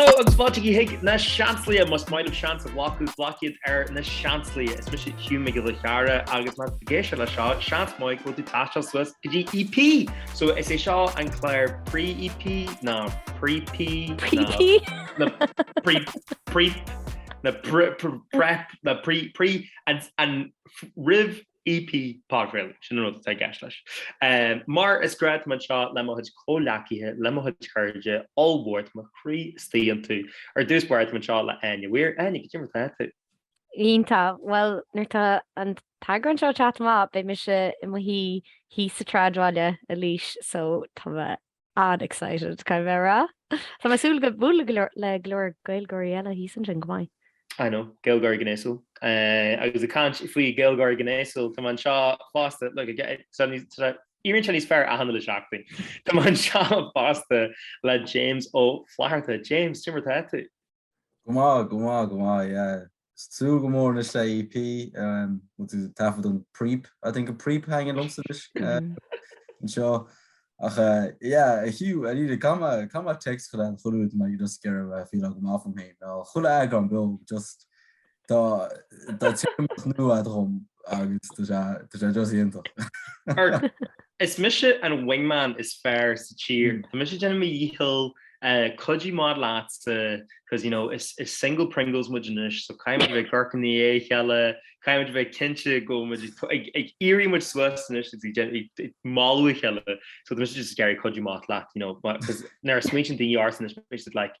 Hello agus fáilte chuig Na Seansálaithe, más maith libh seans a ghlacadh, glac iad ar Na Seansálaithe. Is mise Hugh Mac Giolla Chearra agus má tá tú ag éisteacht leis seo, seans maith go bhfuil tú ag taisteal suas go dtí EP! So is é seo an clár pre-EP ná pre-P ná P.P. na pre pre na pre pre prep na pre pre an an réamh EP podchraoladh, sin an rud atá i gceist leis. Mar is gnách tá mé anseo le mo chuid comhleacaithe, le mo chuid cairde, ollmhór tá mo chroí istigh iontu. Ar dtús báire tá mé anseo le Áine Mhaoir. Áine, cad é mar atá tú? Iontach, bhuel nuair atá an t-eagrán seo ag teacht amach beidh mise i mo shuí thíos sa tSráidbhaile i Laois so tá An-excited, caithfidh mé a rá. Tá mé ag súil go bualadh le go leor Gaeilgeoirí eile thíos ansin, go maith. I know, Gaeilgeoirí gnéasúil. Agus ag caint faoi Ghaeilgeoirí gnéasúil, tá mé anseo fosta, le, éiríonn sé níos fearr achan uile seachtain, tá mé anseo fosta le James Ó Flatharta. James, cad é mar atá tú? Go maith, go maith, go maith, yeah. Ag súil go mór anois le EP, bhfuil tú ag taifead an Preep, I think an Preep a thaitníonn liomsa anois anseo. Ach yeah, a Hugh, I need a, caithfidh mé, caithfidh mé text chuile uair dá mbeidh mé just ag iarraidh feeláil go maith fúm fhéin, nó chuile eagrán beo, just, Tá téarmaíocht nua agat dhom agus tá sé just iontach. Is mise an wingman is fearr sa tír. Tá mise ag déanamh mo dhícheall, cuidiú amach leatsa cos you know is single Pringles muid anois so caithfimid a bheith ag amharc i ndiaidh a chéile, caithfimid a bheith cinnte go bhfuil muid ag iarraidh muid suas anois agus ag moladh a chéile so tá mise just ag iarraidh cuidiú amach leat you know mar cos nuair a smaointeann daoine ortsa anois beidh siad like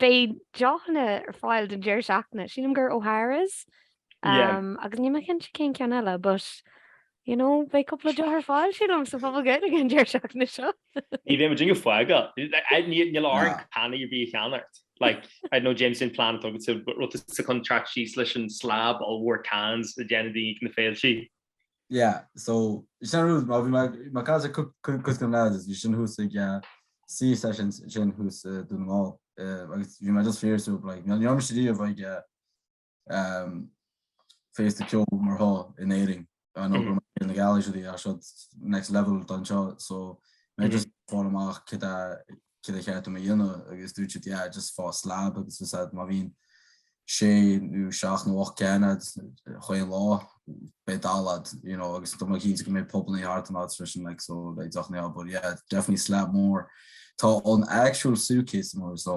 Beidh deochanna ar fáil don deireadh seachtaine. Sílim gur O'Hara's agus níl mé cinnte cén ceann eile but you know beidh cúpla deoch ar fáil sílim sa phuball Gaeilge an deireadh seachtaine seo. Ní bheidh muid ag déanamh foighil. Níl orainn canna ar bith a cheannacht. Like, I don't know, James, an plean atá agat, bhfuil tusa chun trek síos leis an slab ollmhór cans a dhéanann daoine ag na féiltí. Yeah, so is sin rud, mar bhí mé ag caint le cuid de na lads a bhí ansin thuas ag Sea Sessions ansin thuas i nDún na nGall, agus bhí mé just fíor súil like níl níl mise riamh ag féasta ceoil mar seo in Éirinn, I know Féile na Gealaí is é seo next level don seo so mé just fáil amach cad é céard ba cheart dom a dhéanamh agus dúirt siad yeah just faigh slab agus bhí siad má bhíonn sé nó seacht nó ocht gceann agat chaon lá beidh dalladh agat you know agus tá mé cinnte go mbeidh pubannaí thart an áit freisin like so beidh deochannaí ar fáil but yeah definitely slab mór tá an actual suitcase mór so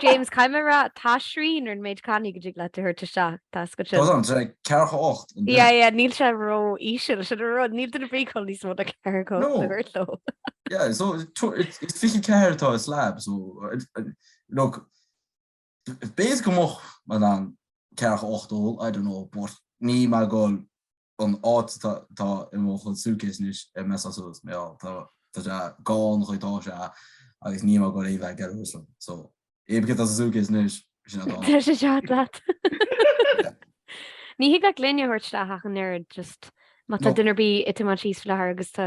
James, caithfidh mé a rá, tá srian ar an méid cannaí go dtig leat a thabhairt isteach, tá scoth sin. Tá, tá ceathracha ocht. Yeah, yeah, níl sé ró íseal, sin a rud, níl daoine ag gabháil níos mó ná ceathracha ocht a thabhairt leo. Yeah, so it's fiche ceathair, tá slab, so look, bí go moch mar an ceathracha ocht, ó, I don't know, but níl mé ag gabháil an áit atá i mo chuid suitcase anois i mo suitcase mé ag gabháil chuig, tá sé agus níl mé ag gabháil a bheith get away from so EP as an suitcase anois sin an Tá sé seo leat. Ní thig leat gloine a thabhairt isteach ach an oiread just má tá duine ar bith ag tiomáint síos faoi láthair agus tá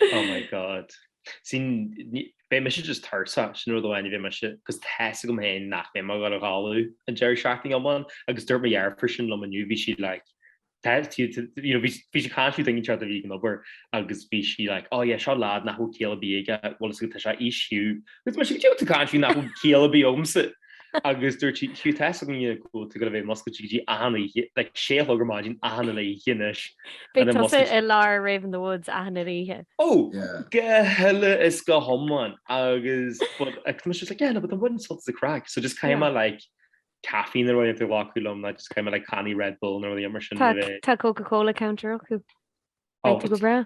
Oh my God. See, ní- beidh mise just tuirseach, sin rud amháin a bheidh mise, agus tá a fhios agam féin nach mbeidh mé ag gabháil a chodladh an deireadh seachtaine iomlán, agus dúirt mo dheirfiúr sin liom inniu, bhí sí like, tá- tí- tí- you know, bhí sí- bhí sí ag caint faoi daoine eachtar a bhí ag an obair, agus bhí sí like, oh yeah, seo lad nach bhfuil ciall ar bith aige, bhuel a fhios agat tá sé aois, so, agus mise, cad é tá tú ag caint faoi nach bhfuil ciall ar bith agamsa? agus dúirt sí, Hugh, tá tusa ag gabháil a bheith múscailte go dtí achan oíche, like sé a chlog ar maidin, achan uile oíche anois. Beidh tusa i lár Rave in the Woods achan uile oíche. Ó, go huile is go hiomlán agus but I was just like, yeah, no, but bainfidh mé an-sult as an chraic, so just caithfidh mé like caifín nó rudaí a ghlacadh liom, like just caithfidh mé like cannaí Red Bull nó rudaí mar sin. Tá Coca-Cola counter acu. Beidh tú go breá.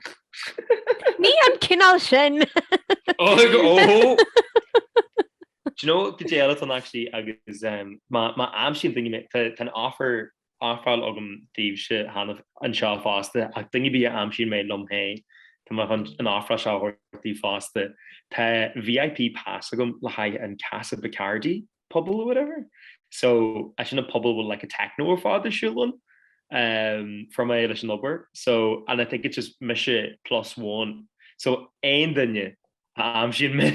Ní an cineál sin! Ó, óhó! Do you know, caidé eile actually agus em, má má aimsíonn daoine mé, tá tá an offer athofráil agam daoibhse cheana anseo fosta ach duine ar bith a aimsíonn mé liom féin, tá mé chun an offer seo a thabhairt daoibh fosta. Tá VIP pass agam le haghaidh an Casa Bacardi puball or whatever so is é sin an puball a bhfuil like an techno ar fad ar siúl ann um fuair mé leis an obair so and I think it's just mise plus one so aon duine a aimsíonn mé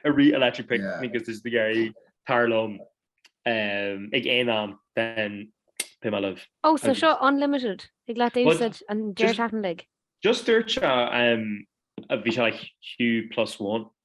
i rith Electric Picnic agus tá tú ag iarraidh teacht liom um ag aon am then beidh mé libh. Ó so seo unlimited agat le húsáid an deireadh seachtaine uilig. Just dúirt sé um a bhí sé like Hugh plus one.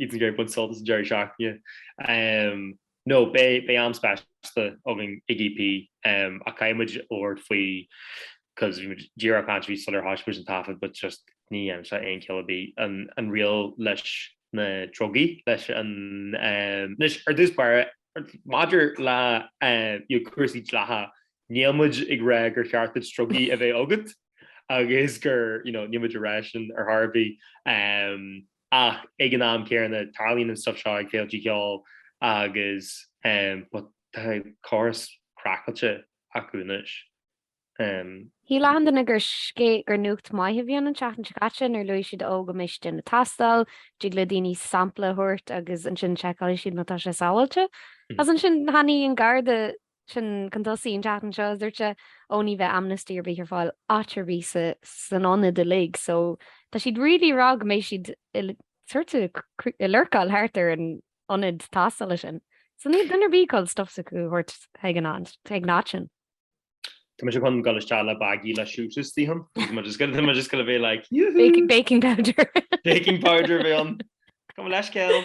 Ag iarraidh baint sult as an deireadh seachtaine. No, beidh am speisialta againn ag EP ach caithfidh muid labhairt faoi cos bhí muid díreach ag caint air sular thosaigh muid an taifead but just ní dhéanann sé aon chiall ar bith an riail leis na drugaí leis an anois ar dtús báire maidir le cúrsaí dleatha níl muid ag rá gur cheart duit drugaí a bheith agat agus gur níl muid ar a shon ar chor ar bith. ach ag an am céanna tarlaíonn an stuif seo ag féilte ceoil agus tá córas craiceáilte acu anois. Shíl achan duine gur scé gur nuacht maith a bhí ann an tseachtain seo caite nuair a luaigh siad ó go mbeidh siad ag déanamh tástáil, dtig le daoine sampla a thabhairt agus ansin seiceálfaidh siad má tá sé sábháilte. Is ansin tháinig an Garda Sin chun tosaigh an tseachtain seo, a dúirt sé, ó ní bheidh amnesty ar bith ar fáil áit ar bith san ionad uilig. So tá siad really ag rá go mbeidh siad sort of ag lurcáil thart ar an ionad tástála sin. So níl duine ar bith ag dul stuff s'acu a thabhairt chuig an áit sin. Tá mise chun dul isteach le baggie le siúiteas díom. Tá mé just going to be like yoo-hoo! Baking powder! Baking powder a bheidh ann. Cuma leis, Cill.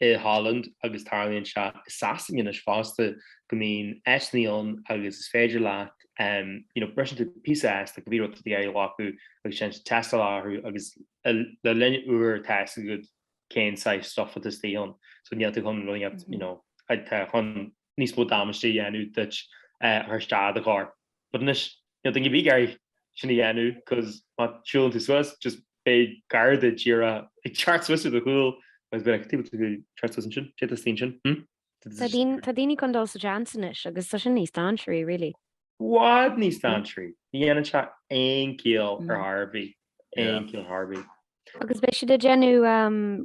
i Holland agus tarlaíonn sé i Sasain anois fosta go mbíonn áiseanna ann agus is féidir leat you know briseann tú píosa as tá go leor rudaí ar aghaidh acu agus déanann siad tástáil orthu agus le linn uair tá a fhios agat cén saghas stuif atá istigh ann so níl tú chun rud a dhéanamh you know tá chun níos mó damáiste a dhéanamh duit a chur isteach i do chorp. But anois, níl duine ar bith ag iarraidh sin a dhéanamh cos má siúlann tú suas, just beidh garda díreach ag teacht suas ar do chúl agus beidh tú ag teacht suas ansin. Téigh do stín sin, hm? Tá daoine chun dul sa tseans anois agus tá sin níos dainséaraí, really. I bhfad níos dainséaraí. Ní dhéanann sé aon chiall ar chor ar bith, aon chiall ar chor ar bith. Agus beidh siad ag déanamh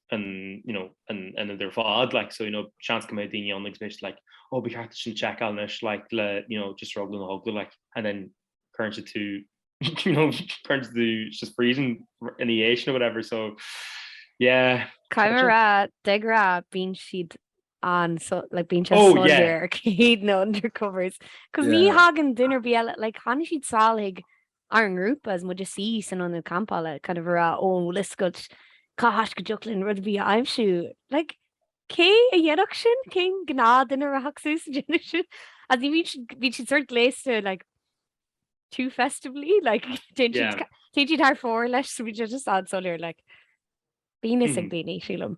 an you know an an áit ar fad like so you know seans go mbeidh daoine ann agus mbeidh siad like oh ba cheart sin seiceáil anois like le you know just ar eagla na heagla like and then cuireann siad tú you know cuireann siad tú sa phríosún in the ace or whatever so yeah Caithfidh mé a rá de rá bíonn siad an so like bíonn siad Oh, yeah. soiléir ar cé hiad na undercovers cos ní Yeah. thagann duine ar bith eile like tháinig siad sall chuig ár ngrúpa, is muid ag suí san ionad campála, kind of ag rá, oh, bhfuil fhios agat cá háit go dtiocfadh linn rud ar bith a aimsiú? Like, cé a dhéanfadh sin? Cén gnáthduine a rachadh suas a dhéanamh sin? As in bhíonn siad, bíonn siad sort gléasta, like, too festively, like, téann siad, yeah, téann siad thar fóir leis, so bíonn siad just an-soiléir, like, bíonn a fhios ag daoine, sílim.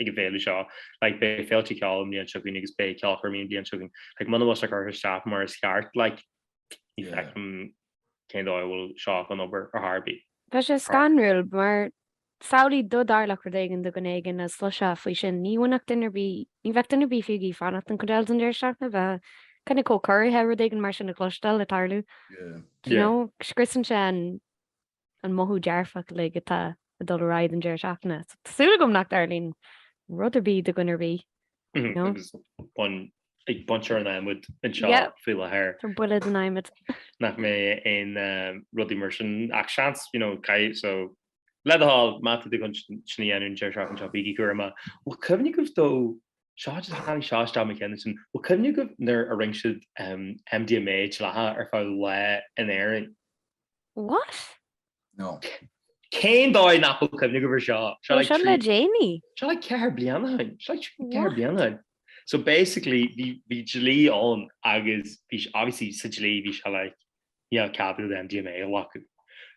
ag an bhféile seo, like, beidh féilte ceoil an bhliain seo chugainn agus beidh ceolchoirmí an bhliain seo chugainn, like, muna bhfuil sé curtha isteach mar is ceart, like, ní fheicim cén dóigh a bhfuil seo chun obair ar chor ar bith. Tá sé scanrúil, mar samhlaigh dá dtarlódh rud éigin do dhuine éigin is chloisfeá faoi sin, ní fhanfadh duine ar bith, ní bheadh duine ar bith fiú ag iarraidh fanacht an chuid eile den deireadh seachtaine, a bheadh kind of chomh corraithe rud éigin mar sin a chloisteáil, ag tarlú, do you know, scriosann sé an. an mothú dearfach uilig atá ag dul ar aghaidh don deireadh seachtaine. Tá súil agam nach dtarlaíonn rud ar bith do dhuine ar bith. Agus bain ag baint ar an adhmad anseo faoi láthair. Tá buille den adhmad. Nach mbeidh aon rudaí mar sin ach seans, you know, caithfidh, so le do thoil, má tá tú chun sin a dhéanamh an deireadh seachtaine seo bígí cúramach. Bhfuil cuimhne agaibh though, seo, just tháinig seo isteach i mo cheann ansin, bhfuil cuimhne agaibh nuair a rinne siad MDMA dleathach ar feadh lá in Éirinn? What? No. Cén dóigh nach bhfuil cuimhne agam ar seo? Seo le sin le déanaí? Seo le ceithre bliana ó shin. Seo le ceithre bliana ó shin. So basically, bhí dlí ann agus bhí obviously sa dlí bhí sé like, ní raibh ceadú le MDMA a ghlacadh.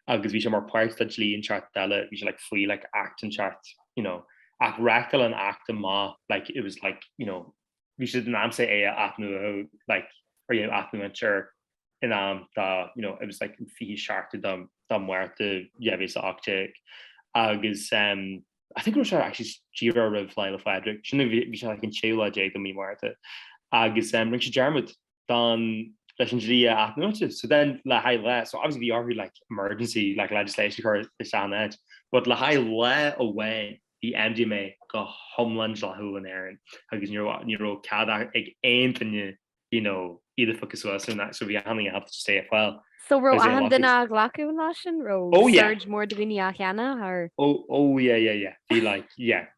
Agus bhí sé mar páirt de dlí inteacht eile, bhí sé like faoi like act inteacht, you know. Ach reáchtáil an act amach like it was like, you know, bhí siad in ainm is é a athnuadhadh like or you know athnuaint ar in am dá you know it was like an 20 seachtú de de Márta 2018 agus um I think raibh sé actually díreach roimh Lá Fhéile Pádraig sin a bhí bhí sé like an 16ú lá de mí Márta agus um rinne sé dearmad don leis an dlí a athnú. So then le haghaidh lá, so obviously bhí orthu like emergency like legislation a chur isteach in áit, but le haghaidh lá amháin bhí MDMA go hiomlán dleathúil in Éirinn agus ní raibh ní raibh cead ag aon duine you know iad a phiocadh suas so so bhí aithne agat to stay a phoil. So raibh achan duine á ghlacadh an lá sin? Raibh oh yeah! surge mór de dhaoine á cheannach? Or oh oh yeah yeah yeah bhí like yeah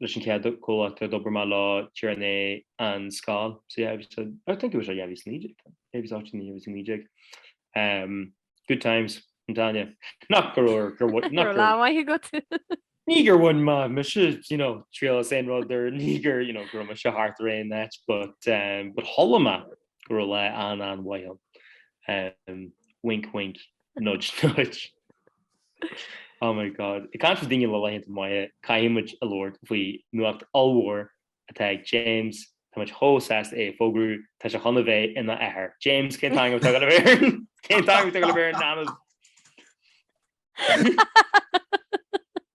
leis an chéad chomhlacht a d'obair mé leo díreach i ndiaidh an scoil so yeah agus I think it was dhá mhíle is a naoi déag it was actually dhá mhíle is a naoi déag ehm good times an Táine nach gur gur gur bhain nach gur lá maith agat ní gur bhain mé mise you know triail as aon rud ar ní gur you know go raibh mé thart ar an áit but um but chuala mé go raibh lá an- an-mhaith ann um wink wink Nudge nudge. Oh my God. Ag caint ar daoine le laethanta maithe, caithfidh muid a labhairt faoi nuacht ollmhór atá ag James, tá muid chomh sásta é a fógrú, tá sé chun a bheith ina athair. James, cén t-ainm atá agat le bhéarn? Cén t-ainm atá agat le bhéarn, Anand?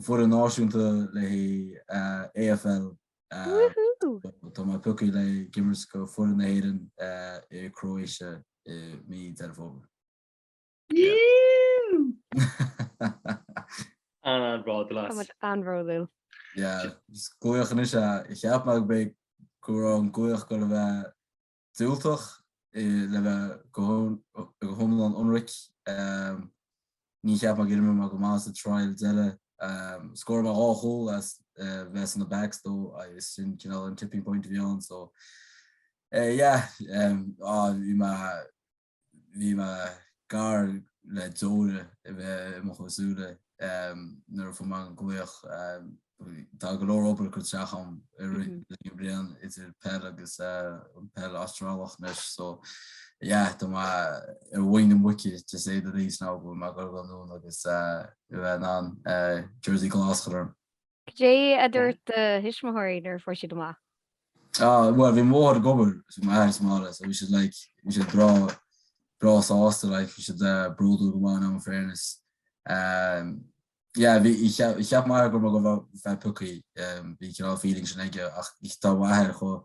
foireann náisiúnta le AFL. Tá mé pioctha le himirt do foireann na hÉireann i Croatia i mí Deireadh Fómhair. Tá muid an-bhródúil. Is glaoch anois ea. Cheap mé go mbeadh go raibh an glaoch ag dul a bheith diúltach, le bheith go hiomlán ionraic, ní cheap mé go d'imir mé go maith sa trial eile. Scóráil mé dhá chúl as bheith san na backs though agus sin cineál an tipping point a bhí ann so yeah bhí mé Bhí mé gar le deora a bheith i mo chuid súile nuair a fuair mé an glaoch. Tá go leor obair curtha isteach agam i rith na bliana idir peil agus an peil Astrálach anois so yeah tá mé ar mhuin na muice to say the least ná go bhfuil mé ag goil anonn agus a bheith in ann Jersey Glas a chur orm. Cad é a dúirt do thuismitheoirí nuair a fuair siad amach? Ah, bhuel, bhí mo mháthair ag obair, bhí m'athair sa mbaile, so bhí siad like, bhí siad breá, breá sásta, like, bhí siad eh, bródúil go maith ionam in fairness. Um, yeah, bhí, bhí cheap, bhí cheap m'athair go raibh mé go bhfeá- bhfeá piocthaí, um, bhí cineál feeling sin aige, ach bhí- tá m'athair chomh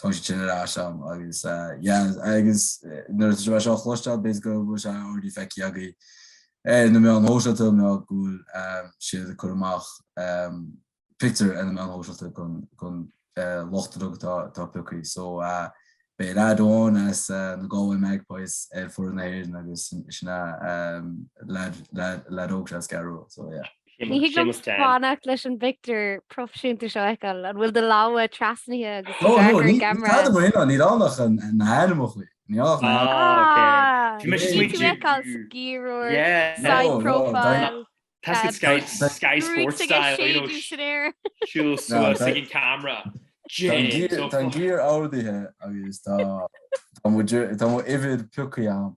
tá sé tinn ar ais ann agus yeah agus nuair atá sé mar seo a chloisteáil b'fhéidir go bhfuil sé already feicthe agaí ar na meáin shóisialta nó go bhfuil siad ag cur amach pictiúir ar na meáin shóisialta chun lucht uilig atá piocthaí so beidh leaid amháin as na Galway Magpies ar foireann na hÉireann agus sin leaid óg as an gCeathrú Rua so yeah. Ní thig liom fanacht leis an bpictiúr proifisiúnta seo a fheiceáil. An bhfuil do lámha trasnaithe agus tú ag amharc ar an gceamara? Cad amuigh inniu? Níl ann ach na hainmneachaí. Bhí mé ag smaointiú. Bhí tú ag fheiceáil sciarrúir, side profile. That's Sky Sports style, you know, siúl suas ag an camera. Tá an gear ordaithe agus tá mo uimhir piocthaí agam.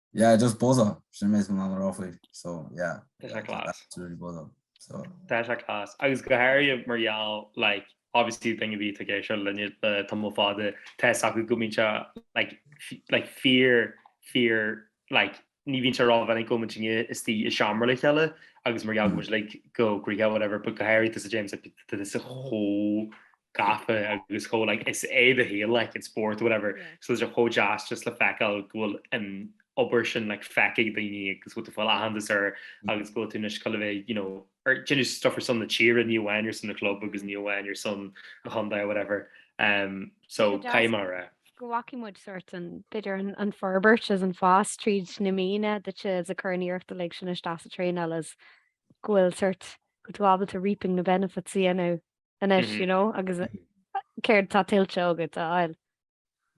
Yeah, just buzz up. Sin an méid atá mé in ann a rá faoi. So, yeah. Tá sé class. It's really buzz up. So. Tá sé class. Agus go háirithe mar gheall, like, obviously daoine a bhí ag éisteacht linne le tamall fada tá a fhios acu go mbíonn sé like, like fear fear like ní bhíonn sé rómhinic go mbíonn muidne istigh i seomra le chéile agus mar gheall go like go gríhe whatever, but go háirithe tusa James is tú chomh gafa agus chomh like is é do shaol like an spórt whatever so tá sé chomh deas just le feiceáil go bhfuil an obair sin like feicfidh daoine agus go bhfuil aitheantas air agus go bhfuil tú anois cineál you know ag déanamh stuff ar son na tíre ní amháin ar son na club agus ní amháin ar son na chondae whatever um, so caidé mar a go bhfaca muid sort an b'fhéidir an forbairt is an fás tríd na míonna duitse a chur an iarracht uilig sin isteach sa traenáil is go bhfuil sort go bhfuil tú ábalta reaping na benefits a dhéanamh anois you know agus céard atá tuillte agat a fháil?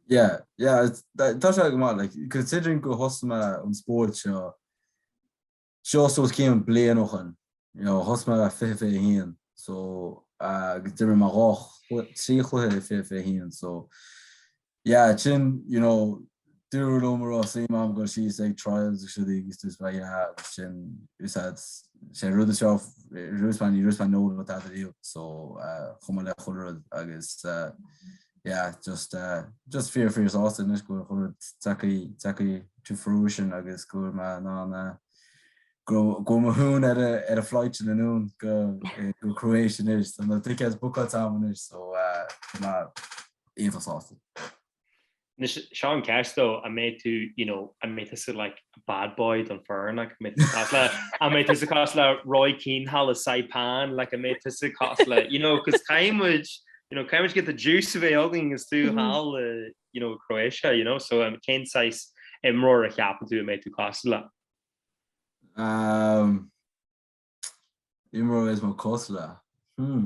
Yeah, yeah, tá sé go maith, like, considering go thosaigh mé an spórt seo, seo so is cé mhéad bliain ó shin, you know, thosaigh mé 2021, so agus d'imir mé dhá, trí chluiche 2021, so Yeah, sin, you know, dúradh liom an raibh suim agam goil síos ag trials agus rudaí agus just like, yeah, agus sin, is ea, sé rud is raibh, rud is ní rud is nóg le tada riamh, so uh, chomh maith le chuile rud agus uh, yeah, just, uh, just fíor fíor sásta anois go bhfuil chuile rud tagthaí, tagthaí to fruition agus go bhfuil mé in ann a go go mo hún ar a, ar an flight sin anonn go, go Croatia anois, so na tickets bookáilte agam anois, so uh, Éabha sásta. Anois seo an cheist though, an mbeidh tú, you know, an mbeidh tusa like a bad boy don foireann, like an mbeidh tú cosúil le, an mbeidh tusa cosúil le Roy Keane thall i Saipan, like an mbeidh tusa cosúil le, you know, cos caithfidh muid, you know, caithfidh muid get the juice a bheith againn agus tú thall i, you know, Croatia, you know, so um, cén saghas imreoir a cheapann tú a mbeidh tú cás le? Um, imreoir is mó cosúil le, hmm.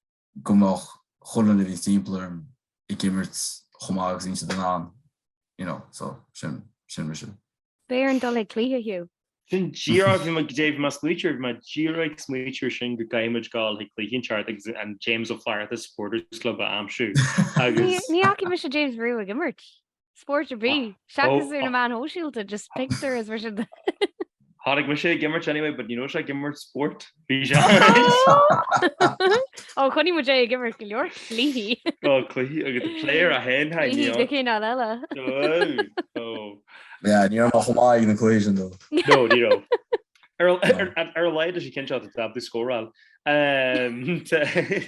go mbeadh chuile dhuine timpeall orm ag imirt chomh maith agus a bhíonn siad in ann, you know, so sin, sin mise. Beidh orainn dul ag cluiche Hugh. Sin díreach, bhí mé go deimhin mé ag smaoitiú air, bhí mé díreach ag smaoitiú ar sin go gcaithfimid gabháil chuig cluiche inteacht agus an James Ó Flatharta Supporters Club a aimsiú agus. Ní fhaca mise James riamh ag imirt. Spóirt ar bith. Seachas ar na meáin shóisialta, just pictiúir is mar sin de. Chonaic mise é ag imirt anyway, but ní raibh sé ag imirt spóirt. Bhí sé Ó chonaic muid é ag imirt go leor cluichí. Ó cluichí agus the player a haon hain Cluichí níor. de chineál eile. Ó. Yeah, ní raibh mé chomh maith ag na cluichí sin though. No, ní raibh. Ar a- ar a- ar a laghad sna cinn seo tá tú ag scóráil. Ehm, t-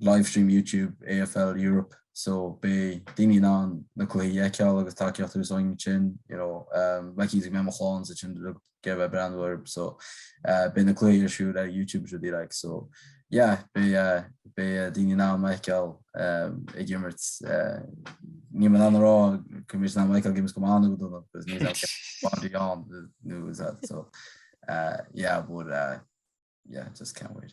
livestream YouTube AFL Europe so beidh daoine in ann na cluichí a fheiceáil agus tacaíocht a thabhairt dhúinn ansin you know like easy mé mo chlann is iad sin ag goil a bheith ag breathnú air so beidh na cluichí ar siúl ar YouTube is rudaí like so yeah beidh beidh daoine in ann mé a fheiceáil ag imirt níl mé in ann a rá go mbeidh siad in ann mé a fheiceáil ag imirt go maith nó go dona because nobody knows that so yeah but yeah just can't wait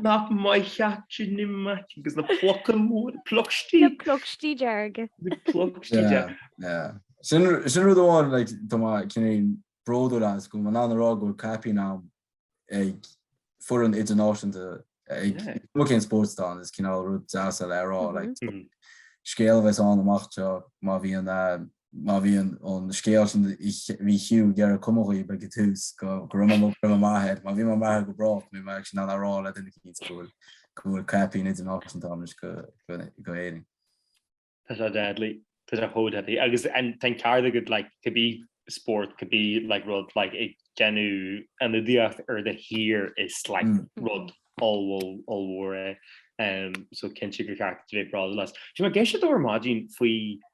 Nach maith theacht sin i maic agus na pluca mór, plucstí. Na plucstí dearg. Na plucstí dearg. Sin rud amháin like tá mé cineál bródúil as go mbeidh mé in ann a rá go bhfuil caipín agam ag foireann idirnáisiúnta is cuma cén spórt atá ann is cineál rud deas le rá like scéal a bheas agam amach anseo má bhíonn má bhíonn an scéal sin bhí Hugh ag iarraidh go mbeifeá ag an tús go go raibh mé raibh mé maith air má bhí mé maith air go brách bheinn in ann a rá le daoine cinnte go bhfuil go bhfuil caipín idirnáisiúnta agam anois do do Éirinn. Tá sé deadly. Tá sé chomh deadly agus agus tá an ceart agat like could be sport could be like rud like ag déanamh ionadaíocht ar do thír is like rud ollmhór ollmhór é. Um, so cinnte gur cheart bheith bródúil as. Tá mo cheist duit ar maidín faoi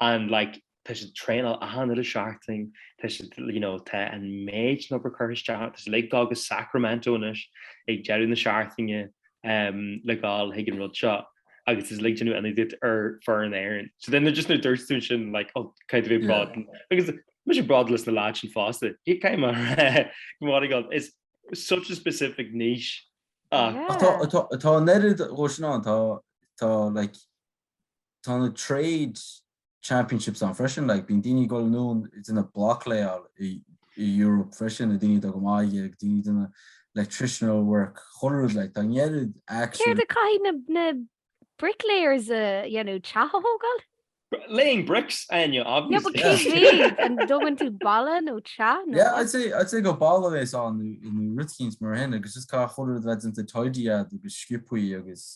and like tá siad ag traenáil achan lá sa tseachtain, tá siad you know tá an méid sin obair curtha isteach ann, tá siad ag dul go Sacramento anois ag deireadh na seachtaine um le dhul chuig an rud seo agus tá siad ag déanamh ionadaíocht ar fud na hÉireann. So then just nuair dúirt tú ansin like oh cineál bród agus tá mise bródúil as na lads sin fosta. Fiú cé go, my God. It's such a specific niche ach Ach tá, Yeah. tá, tá an oiread duaiseanna ann, tá, tá, like, tá na Trade Championships ann freisin, like, bíonn daoine ag dul anonn ag déanamh block-layáil i i Europe freisin, na daoine atá go maith aige, daoine ag déanamh electricianal work, chuile rud, like, tá an oiread actually. Céard a chaithfidh na na bricklayers a dhéanamh, teach a thógáil? Laying bricks, Áine, No, but obviously. cé mhéad? An dtógann tú balla nó teach nó Yeah, what? I'd say, I'd say gur balla a bheas ann nó nó rud eicínt mar sin agus just caithfidh chuile rud a bheith déanta tidy agat agus sciobtha agus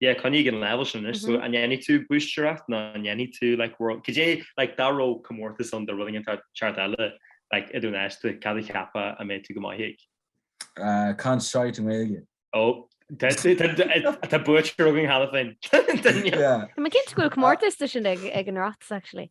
yeah, coinnigh ag an leibhéal sin anois, so an ndéanfaidh tú búistireacht nó an ndéanfaidh tú like world, cad é like dá raibh comórtas ann do rud éigin eile like i do shaolsa, cad a cheapfá a mbeadh tú go maith ag? Ah, caint shite i nGaeilge. Oh, tá tú, tá, tá, tá buaiteoir againn cheana féin. Tá, yeah. Tá mé cinnte go bhfuil comórtas de sin ag, ag an Oireachtas actually.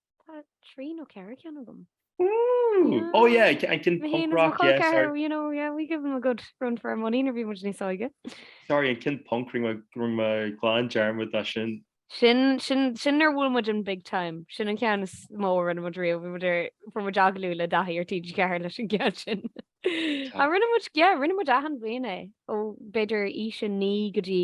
Tá trí nó ceithre ceann agam. Ooh! Oh yeah, ce- an ceann punk rock, yeah, col ceathrair, sorry. you know, yeah, we give them a good run for our money nuair bhí muid níos óige. Sorry, an ceann punk, rinne mé- rinne mé glan dearmad de sin. Sin, sin, sin nuair a bhuail muid an big time. Sin an ceann is mó a rinne muid riamh, bhí muid ar, fuair muid agallamh le Daithí ar TG4 leis an gceann sin. Tá. Ach rinne muid, yeah, rinne muid achan bhliain é, ó b'fhéidir aois a naoi go dtí,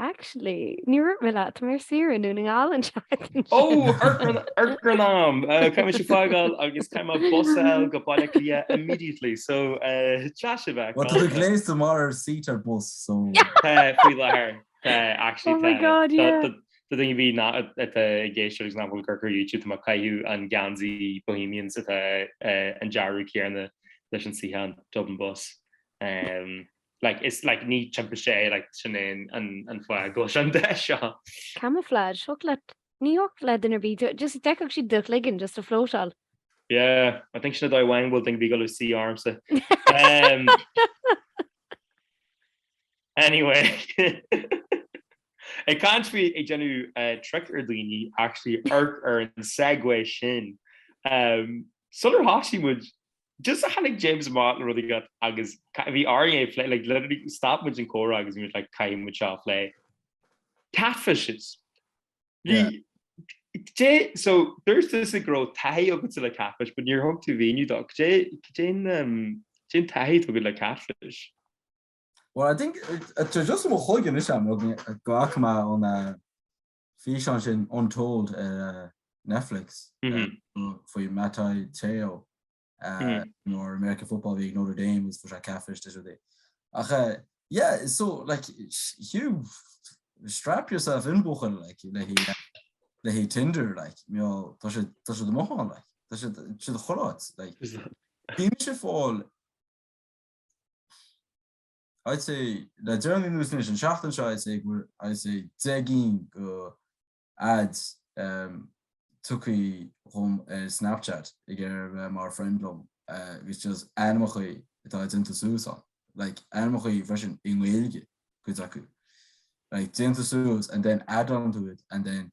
Actually, ní bheidh mé leat, tá mé ar saoire i nDún na nGall an tseachtain seo. Oh, ár ngrá, a Dhia! Caithfidh mise fágáil agus caithfidh mé bus a fháil go Baile Átha Cliath immediately, so seo a bheas agam. Tá tú gléasta mar seat ar bus, so. Tá, faoi láthair, tá, actually, tá. Oh my God, yeah. Do dhaoine atá ag éisteacht agus nach bhfuil ag coimhéad ar YouTube, tá mé ag caitheamh an geansaí Bohemians atá an dearadh céarna leis an suíochán Dublin Bus. Like, is like ní timpiste é, like sin é an an fáth go bhfuil sé an dath seo. Camouflage, thiocfadh leat, ní thiocfadh le duine ar bith, do just d'fheicfeadh siad do chloigeann just ag floatáil. Yeah, I think sin é an dóigh amháin a bhfuil duine ar bith ag gabháil a suí ormsa. Umm Anyway, ag caint faoi ag déanamh trick ar dhaoine, actually amharc ar an segue sin. Umm sular thosaigh muid Just a tháinig James amach le rud éigin agus bhí orainn é a phlé, like literally stop muid an comhrá agus muid like caithfidh muid seo a phlé. Catfishes. Yeah so dúirt tusa go raibh taithí agatsa le catfish, but níor thug tú míniú domh. Cad é an taithí atá agat le catfish. Well I think just mo chuig in is am gá má an físeán sin Untold ar Netflix faoi Manti Te'o nár American football a bhí ag Notre Dame agus fuair sé catfish de rudaí ach yeah so like Hugh strap yourself in buachaill like le le Tinder like you know tá sé tá sé do mhothán like tá sé do chomhrá like bímis ar fáil I'd say, le deireanaí nó is anois an seachtain seo, I'd say, go, I'd say, deich gcinn de, adds, um, tagtha chugam ar Snapchat ag iarraidh a bheith mar friend liom agus just ainmeachaí atá déanta suas ann, like, ainmeachaí freisin i nGaeilge, cuid acu, like, déanta suas and then add onto it and then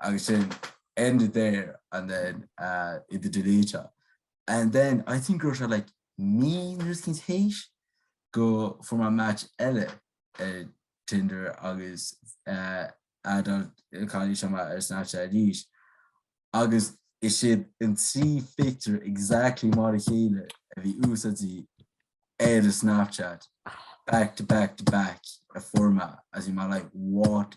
agus sin ended there and then uh iad a deleteáil and then I think raibh sé like mí nó mar sin théis go bhfuair mé match eile ar Tinder agus uh add an cailín seo mé ar Snapchat arís agus is iad an trí phictiúr exactly mar a chéile a bhí úsáidte ar a Snapchat back to back to back a fuair mé agus bhí mé like what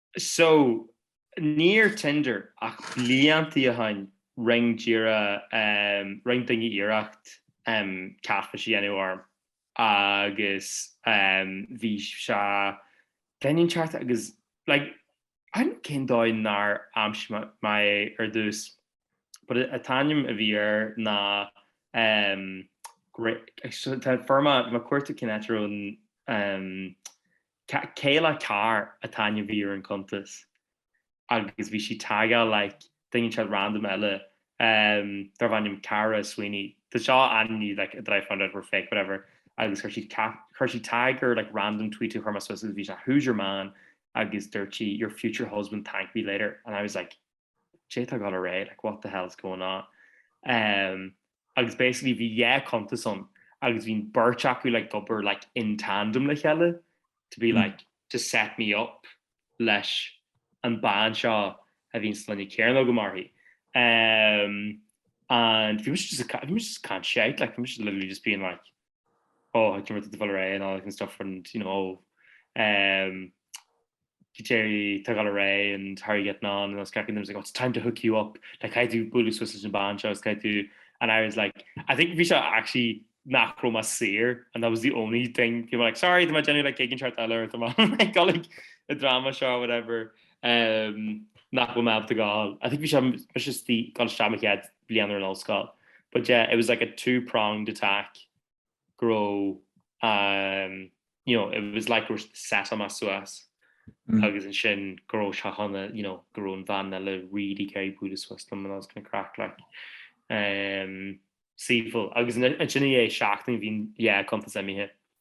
so, ní ar Tinder ach bliantaí ó shin rinn d'iarradh ehm rinn duine iarracht ehm catfish a dhéanamh orm agus ehm bhí sé bheinn an ceart agus like an cén dóigh nár aimsigh mé mé é ar dtús but an t-ainm a bhí air ná ehm great tá an format má cuirtear cinn eatarthu ehm Kayla Carr an t-ainm a bhí ar an cuntas agus bhí sí ag tagáil like duine inteacht random eile um darb ainm Cara Sweeney tá seo an ní like that I found out were fake whatever agus chuir siad chuir siad tag ar like random tweet a chuir mé suas agus bhí sé who's your man agus dúirt sí your future husband thank me later and I was like Cad é tá ag dul ar aghaidh like what the hell is going on um, agus basically bhí dhá cuntas ann agus bhí an beirt acu like ag obair like in tandem le chéile to be like to set me up leis an bean seo a bhí an sloinne céanna agam uirthi um, and bhí muid just a bhí muid just ag caint shite like bhí muid literally just being like oh, I can't remember the full array and all that kind of stuff and you know um Kiteri took all array and how are you getting on and I was cracking them was like oh it's time to hook you up like how do bulu Swiss and ban shows how do and I was like I think Visha actually nach rom as seer and that was the only thing you were like sorry my Jenny like gigging chart dollar or something like got like a drama show or whatever um nach rom ab the gall I think Visha was just the gall shamach yet bliain ar an ollscoil but yeah it was like a two pronged attack go raibh um you know it was like raibh siad set on my suas agus ansin go raibh sé chun you know go raibh an bhean eile really gary búd a suas dom and I was kind of crack like um saoifeall agus ansin é seachtain bhín yeah contas imithe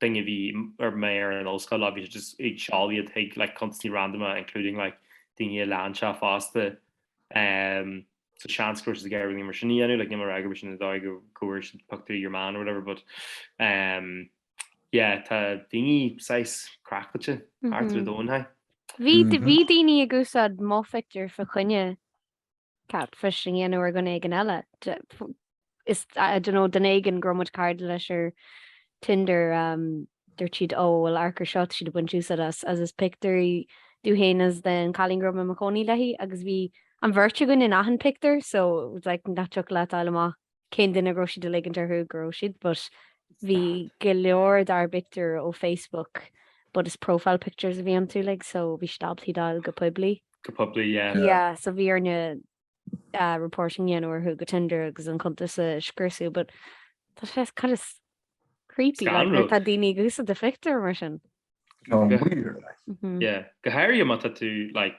daoine a bhí ar mé ar an ollscoil leo bhí siad just ag seoladh iad chuig like cuntasaí randamach including like daoine a lean sé fosta um so seans go raibh siad ag iarraidh mar sin a dhéanamh like níl mé ag rá gurb é sin an dóigh go go bhfuair siad pictiúr of your man or whatever but um yeah tá daoine saghas craiceáilte thart ar an domhan haigh. Bhí bhí daoine ag úsáid mo phictiúr fá choinne catfishing a dhéanamh ar dhuine éigin eile. Is I don't know, duine éigin go raibh muid cairde leis ar Tinder dúirt siad oh well amharc air seo tá siad ag baint úsáid as as is pictiúir de thú féin is den cailín go raibh mé i mo chónaí léi agus bhí an bheirt againn in achan pictiúr so it was like nach dtiocfadh leat fháil amach cén duine go raibh siad ag ligint orthu go raibh siad, but bhí go leor dár bpictiúir ó Facebook but is profile pictures a bhí iontu like so bhí siad ábalta iad a fháil go poiblí. Go poiblí, yeah. Yeah, so bhí orainn reporting a dhéanamh orthu go Tinder agus an cuntas a scriosadh but tá sé kind of creepy like Scanrúil. nuair tá daoine ag úsáid do phictiúr mar sin. Tá Go- weird, like. Mhm. Yeah. Go háirithe má tá tú like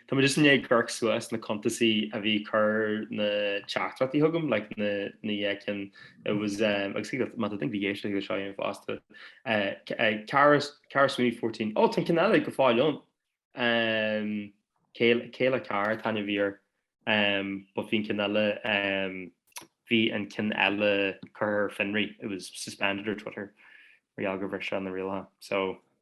Tá mé just i ndiaidh amharc suas na cuntasaí a bhí ag cur na teachtaireachtaí chugam, like na na cinn, it was um agus think that má tá duine ag éisteacht le seo fhéin fosta eh Cara Cara Sweeney fourteen oh tá an ceann eile go fóill ann um Kayla Kayla Carr Tanya Vere um but bhí an ceann eile um bhí an ceann eile curtha ar fionraí, it was suspended ar Twitter mar gheall gur bhris sé na rialacha so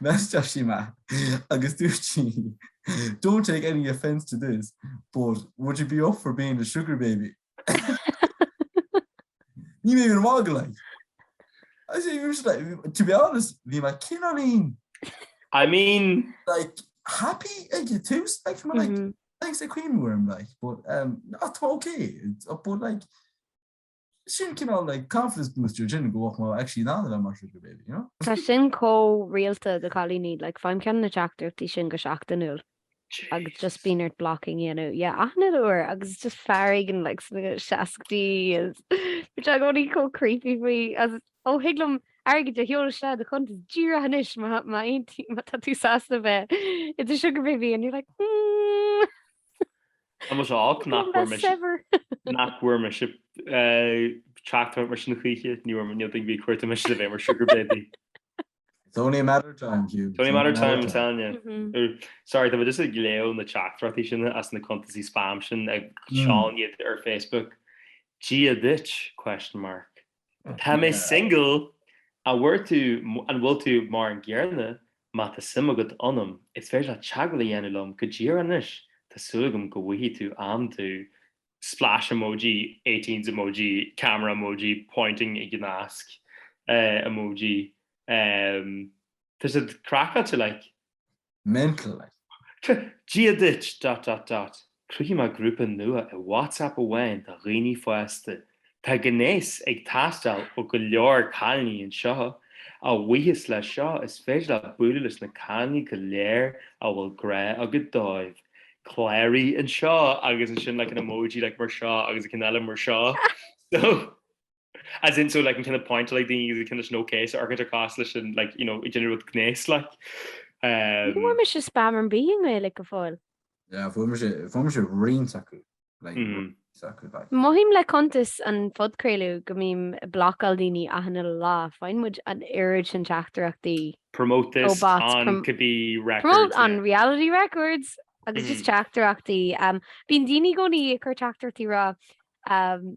Message sí mé agus dúirt sí Don't take any offence to this but would you be up for being a sugar baby? Bhí mé like. I say usually like, to be honest bhí mé cineál. I mean. Like happy ag an tús like bhí mé like thanks ag cuimhniú orm like but um, not ok but like Sin cineál like confidence booster sin go raibh mé actually in ann a bheith mar sugar baby, you know? Tá sin chomh rialta do chailíní, like faighim ceann de na teachtaireachtaí sin go seachtainiúil agus just bíonn ort blocking a dhéanamh, yeah achan uair agus is just fear éigin like sna seascaidí is bíonn siad i gcónaí chomh creepy faoi as ó thig liom airgead a sheoladh isteach i do chuntas díreach anois má má aontaí má tá tú sásta bheith i do sugar baby and you're like mm. Tá mu seach nach bhfuair mé nach bhfuair mise teachtaireacht mar sin choíche ní bhfuair mé níl ag bhí cuairta mé le bheith mar sugar baby. It's only a matter of time Hugh. It's only a matter of time, I'm telling you. Sorry, tá mé just ag léamh na teachtaireachtaí sin as na cuntasaí spam sin ag seán iad ar Facebook. Dia duit? question mark. Tá mé single! An bhfuair tú, an bhfuil tú mar an gcéanna? Má tá suim agat ionam, is féidir leat teagmháil a dhéanamh liom go díreach anois, tá súil agam go bhfaighidh tú am tú! splash emoji, eighteens emoji, camera emoji, pointing ag an nasc emoji. Tá siad craiceáilte like! mental. Dia duit, dot dot dot! Cruthaigh mé grúpa nua i WhatsApp amháin do dhaoine fásta. Tá gnéas ag teastáil ó go leor cailíní anseo. A bhuíochas leis seo, is féidir leat bualadh leis na cailíní go léir a bhfuil grá agat dóibh. Cláraigh anseo, agus ansin like an emoji like mar seo agus an ceann eile mar seo. So. as in so like an kind of point like daoine agus kind of nó céis orchid ar cás leis an like you know ag déanamh gnéis like um Ní bhfuair mise spam ar bith i nGaeilge go fóill. Yeah, fuair mise fuair mise roinnt acu like mm -hmm. acu like. Mothaím le cuntas an phodchraoladh go mbím ag blocáil daoine achan lá, faigheann muid an oiread sin teachtaireachtaí. Promote this oh, bots, on prom could be records. Promote yeah. on reality records agus mm -hmm. just teachtaireachtaí. Um, bíonn daoine i gcónaí ag cur teachtaireachtaí ag rá um,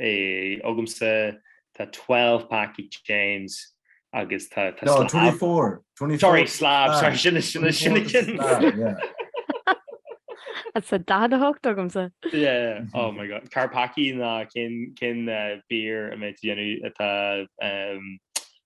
agamsa, tá twelve pack ag James agus tá slab. No, twenty four. Sorry, slab, sorry, sin is sin an ceann. Tá daichead a hocht agamsa. Yeah, oh my god, car pack í ná cin beer a mbeidh tú ag déanamh atá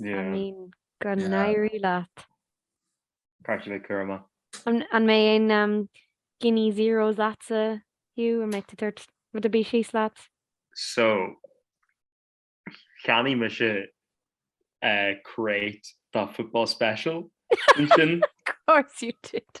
I mean, go n-éirí leat. Caithfidh mé cur amach. An mbeidh aon Guinness zeros leatsa, Hugh? An mbeidh tú ag tabhairt rud ar bith síos leat? So, cheannaigh mise crate de Football Special ansin. Of course you did.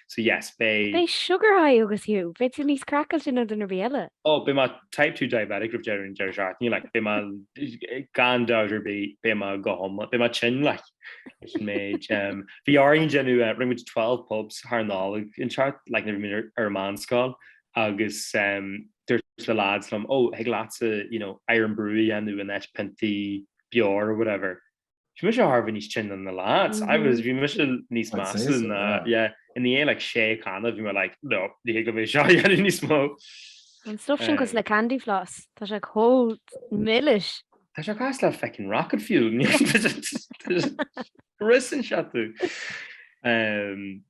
So yes, beidh. Beidh sugar high agatsa Hugh, beidh tú níos craiceáilte ná duine ar bith eile. Oh, beidh mé type two diabetic roimh deireadh an deireadh seachtaine, like, beidh mé, gan dabht ar bith, beidh mé go hiomlán, beidh mé tinn, like, leis an méid. Bhí orainn déanamh, rinne muid twelve pubs thar an Nollaig anseo, like, nuair a bhí muid ar an meánscoil, agus dúirt na lads liom, oh, thig leatsa, you know, Irn-Bru a dhéanamh, in áit piontaí beoir or whatever. Bhí mise thar a bheith níos tinne ná lads. I was, bhí mise níos measa ná, yeah. I ndiaidh like sé canna, bhí mé like, no, ní thig liom é seo a dhéanamh níos mó. An stuff sin cosúil le candy floss, tá sé chomh milis. Tá sé cosúil le feckin' rocket fuel, ris anseo tú.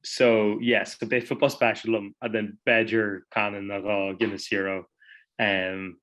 So, yeah, so beidh football special agam and then b'fhéidir canna nó dhó Guinness Zero.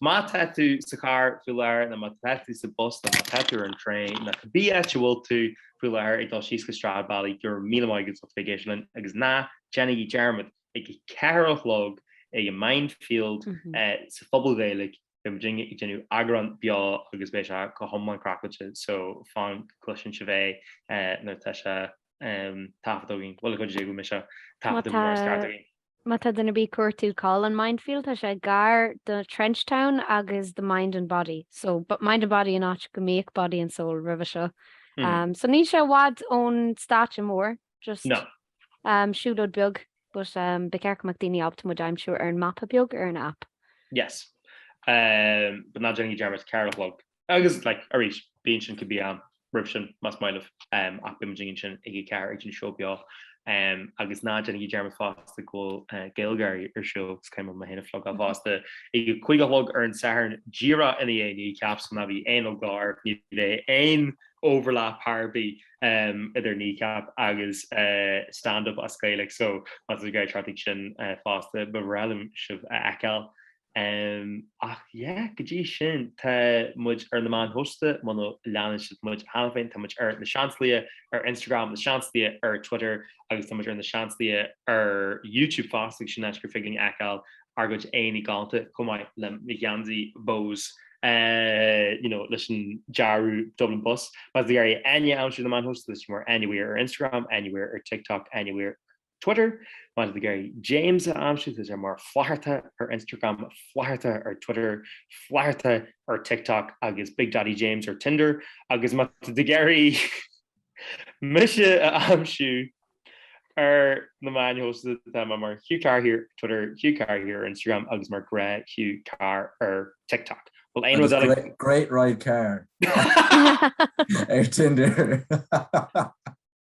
Má tá tú sa charr faoi láthair nó má tá tú sa bus nó má tá tú ar an traein nó cibé áit a bhfuil tú faoi láthair ag dul síos go Stradbally, go raibh míle maith agat as a bheith ag éisteacht linn agus ná déanaigí dearmad ag a ceathair a chlog ag an Mindfield sa phuball Gaeilge beidh muid ag déanamh eagrán beo agus beidh sé go hiomlán craiceáilte so fan go gcloiseann sibh é nuair atá sé taifeadta againn. Bhuel a chuid is é go bhfuil mé seo taifeadta go mór is ceart againn. Má tá duine ar bith ag cuartú cá bhfuil an Mindfield tá sé gar do Trenchtown agus the mind and body so mind and body an áit go mbíodh body and soul roimhe seo so níl sé i bhfad ón stáitse mór just siúlóid beag but ba cheart go mbeadh daoine ábalta muid a aimsiú ar an mapa beag ar an app. Yes. But ná déanaigí dearmad ceathair a chlog Agus, like, arís, bí ansin giota beag roimh sin, más maith libh, ach beidh muidinne ansin ag a ceathair ag an seó beo. Agus ná déanaigí dearmad fosta go bhfuil GaelGáirí ar siúl, caithfidh mé mé féin a phlugáil fosta ag a cúig a chlog ar an Satharn, díreach i ndiaidh Kneecap so ná bíodh aon eagla oraibh, ní bheidh aon overlap ar bith idir Kneecap agus stand-up as Gaeilge so má tá sibh ag iarraidh teacht chuig sin fosta ba bhreá liom sibh a fheiceáil. Em, ach yeah, go dtí sin, tá muid ar na meáin shóisialta, muna leanann sibh muid cheana féin, tá muid ar na Seansálaithe ar Instagram, na Seansálaithe ar Twitter agus tá muid ar na Seansálaithe ar YouTube fosta agus sin áit gur féidir linn fheiceáil ár gcuid aghaidheanna galánta chomh maith le mo gheansaí Bohs eh, you know, leis an dearadh Dublin Bus. Má tá sibh ag iarraidh Áine a aimsiú ar na meáin shóisialta leis sin mar Anywhere ar Instagram, Anywhere ar TikTok, Anywhere Twitter, má tá tú ag iarraidh James a aimsiú, tá sé mar Flatharta ar Instagram, Flatharta ar Twitter, Flatharta ar TikTok agus Big Daddy James ar Tinder agus má tá tú ag iarraidh mise a aimsiú ar na meáin shóisialta tá mé mar Hugh Carr Here Twitter, Hugh Carr Here Instagram agus mar gré Hugh Carr ar TikTok. Well, ein was great, great ride Carr ar Tinder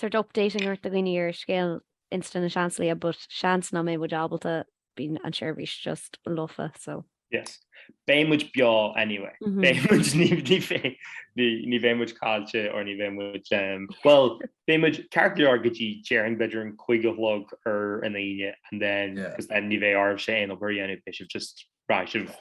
sórt updating a thabhairt do dhaoine ar scéal Insta na Seansálaithe but seans nach mbeidh muid ábalta, bíonn an seirbhís just lofa so. Yes. Beidh muid beo anyway. Beidh muid, ní, ní bheidh, ní, ní bheidh muid caillte or ní bheidh muid, em, bhuel, beidh muid ceart go leor go dtí déarfainn b'fhéidir an cúig a chlog ar an Aoine and then, Yeah. 'cause then ní bheidh oraibhse aon obair a dhéanamh, beidh sibh just, beidh sibh,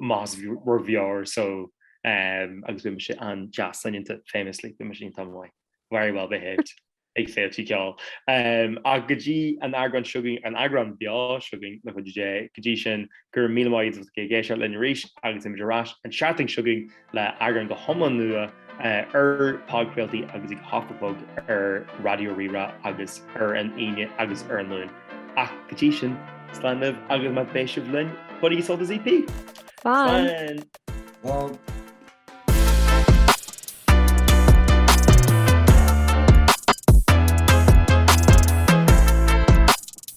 massive raver so agus bhí mise an-deas soineanta famously bhí mise iontach maith very well behaved ag féilte ceoil ach go dtí an t- eagrán seo chugainn, an eagrán beo seo chugainn le cúnamh Dé, go dtí sin go raibh míle maith agat as éisteacht linn arís agus beimid ar ais an tseachtain seo chugainn. le eagrán go hiomlán nua ar podchraoltaí agus ag Hoc a Bhog ar Raidió Rí-Rá agus ar an Aoine agus ar an Luan. Ach go dtí sin, slán libh agus má bheidh sibh linn, bainigí sult as EP! Slán! Slán!